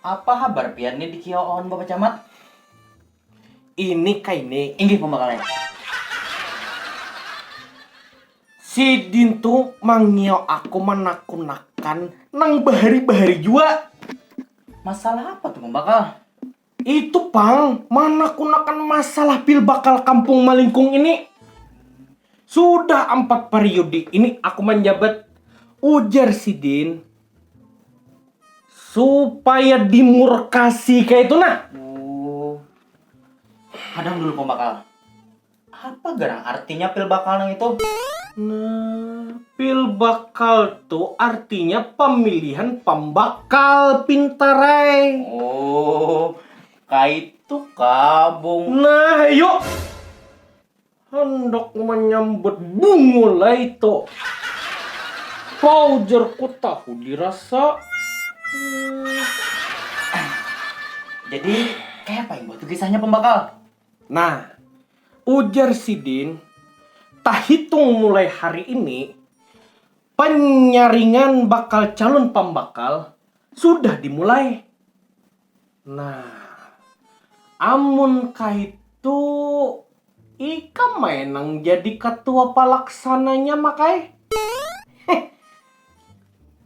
Apa habar pian ni dikio on bapacamat? Ini kai ni inggih pambakalnya. Sidin tu mangio aku manakunakan nang bahari-bahari jua. Masalah apa tu pambakal? Itu pang, manakunakan masalah pilbakal kampung malingkung ini. Sudah ampat pariudi ini aku manjabat, ujar sidin supaya dimurkasi kayak itu nah oh hadang dulu pembakal apa garang artinya pil bakal nang itu nah pil bakal tuh artinya pemilihan pembakal pintarai oh kayak itu kabung nah yuk Handak manyambat Bungul ai to. Pau jar ku tahu dirasa. Jadi kaya apa imbah tu kisahnya pambakal? Nah, ujar sidin, tahitung mulai hari ini panyaringan bakal calun pambakal sudah dimulai. Nah, amun kaitu ikam ai nang jadi katua palaksananya Mak ai. Heh.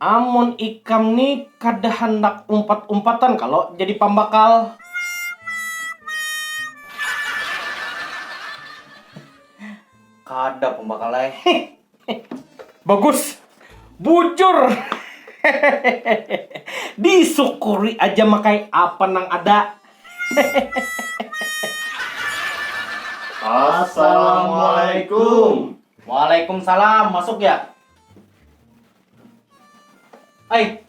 Amun ikam ni kada handak umpat-umpatan kalo jadi pambakal. Kada pambakal ai. Heh. Bagus. Bujur. Disyukuri aja makai apa nang ada. Assalamualaikum. Waalaikumsalam. Masuk ya. Ai.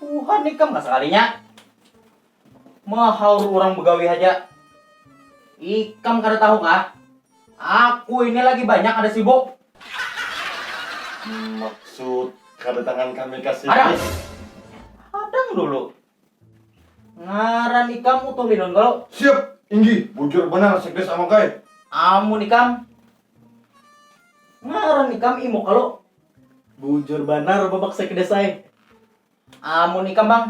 Buhan ikam lah sakalinya. Mahaur urang begawi haja. Ikam kada tahu kah? Aku ini lagi banyak kada sibuk. Maksud kadatangan kami ka sini. Hadang. Hadang dulu. Ngaran ikam Utuh Linun kalu? Siap, Inggi. Bujur banar Sekdes Amuk ai. Amun ikam? Ngaran ikam Imuk kalu? Bujur banar Babak Sekdes ai. Amun ikam bang.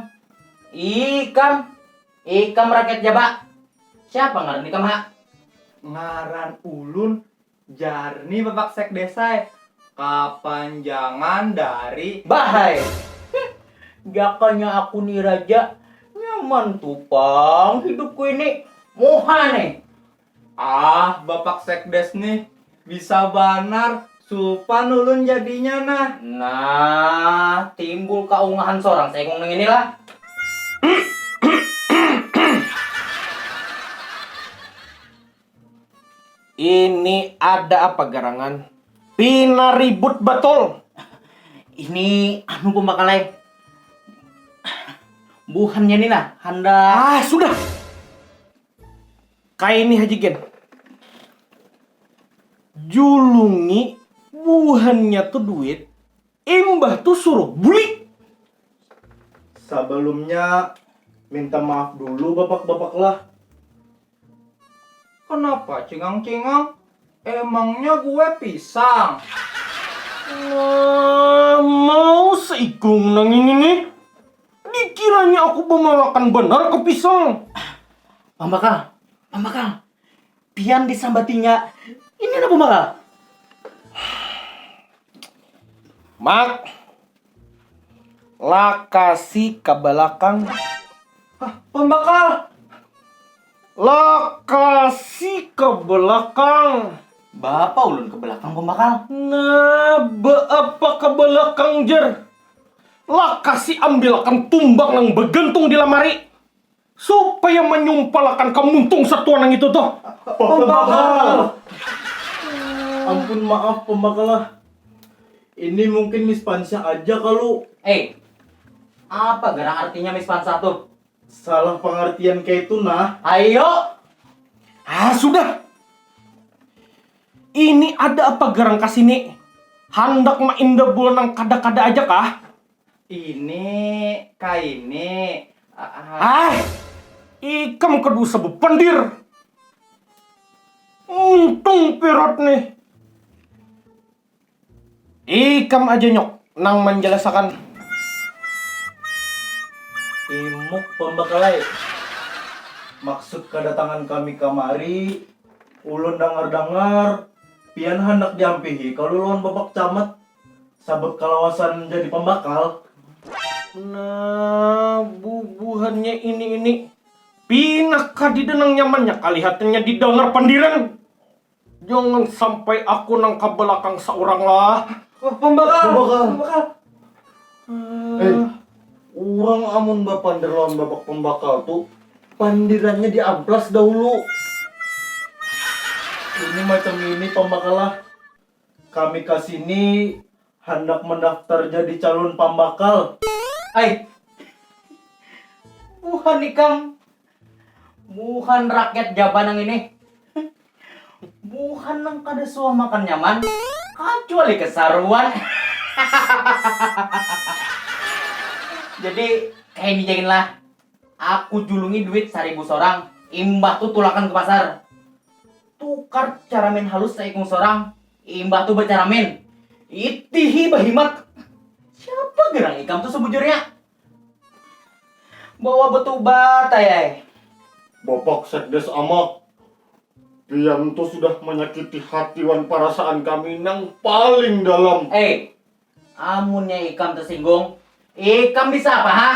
Ikam. Ikam rakyat ja ba. Siapa ngaran ikam ha? Ngaran ulun Jarni bapak sekdesai, kapanjangan dari. Bahai. Hih. Jakanya aku ni raja, nyaman tu pang hidupku ini. Muha nih. Ah bapak sekdes nih bisa banar supan ulun jadinya nah. Nah, timbul kaungahan sorang saikung nang ini lah. Ini ada apa garangan? Pina ribut batul. Ini anu pembakalai. Buhannya ni nah handak. Ah sudah. Kayak ini Haji Gen. Julungi buhannya tu duit, imbah tu suruh buli. Sabalumnya minta maaf dulu bapak-bapak lah. Kenapa cingang-cingang, emangnya gue pisang. Nah, mau seikung nang ini nih. Dikiranya aku bamalakan banar ka pisang. Pambakal, pambakal, pian disambatinya ini nah pambakal. Mak, lakasi ka balakang. Hah, pambakal. Lakasi ka balakang. Baapa ulun ka balakang pambakal? Nah, baapa ka balakang jar. Lakasi ambilakan tumbang nang bagantung di lamari supaya manyumpalakan ka muntung satua nang itu tuh. Pambakal. Ampun maaf pambakal ah, ini mungkin mispansah aja kalu. Ei, apa garang artinya mispansah tuh? Salah pangartian kaitu nah. Aio. Ah sudah. Ini ada apa garang ka sini? Handak maindabul nang kada-kada aja kah? Ini, kaini, ah. Ah! Ikam kada usah bapandir. Muntung Pirot nih. Ikam aja nyok nang manjalasakan. Imuk pambakalai, maksud kadatangan kami kamari, ulun dangar-dangar pian handak diampihi kalu lawan bapak camat sabab kalawasan jadi pambakal. Nah, bubuhannya ini-ini, pina kadida nang nyamannya kalihatannya didangar pandiran. Jangan sampai aku nang ka balakang saurang lah. Wah, pambakal. Pambakal. pambakal. Eh, urang amun bapander lawan babak pambakal tu, pandirannya diamplas dahulu. Ini macam ini pambakal lah, kami ka sini handak mandaftar jadi calun pambakal. Ai. Buhan ikam. Buhan rakyat Japan nang ini. Buhan nang kada suah makan nyaman, kacuali kesaruan. Jadi, kaya ini ja gin lah. Aku julungi duit saribu sorang, imbah tu tulakan ke pasar. Tukar caramin halus saikung sorang, imbah tu bacaramin. Itihi bahimat. Siapa gerang ikam tu sebujurnya? Bawa betubat ai ai. Bapak Sekdes Amak, pian tu sudah manyakiti hati wan parasaan kami nang paling dalam. Ei, amunnya ikam tersinggung, ikam bisa apa ha?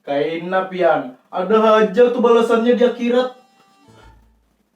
Kaina pian, ada haja tu balasannya di akhirat.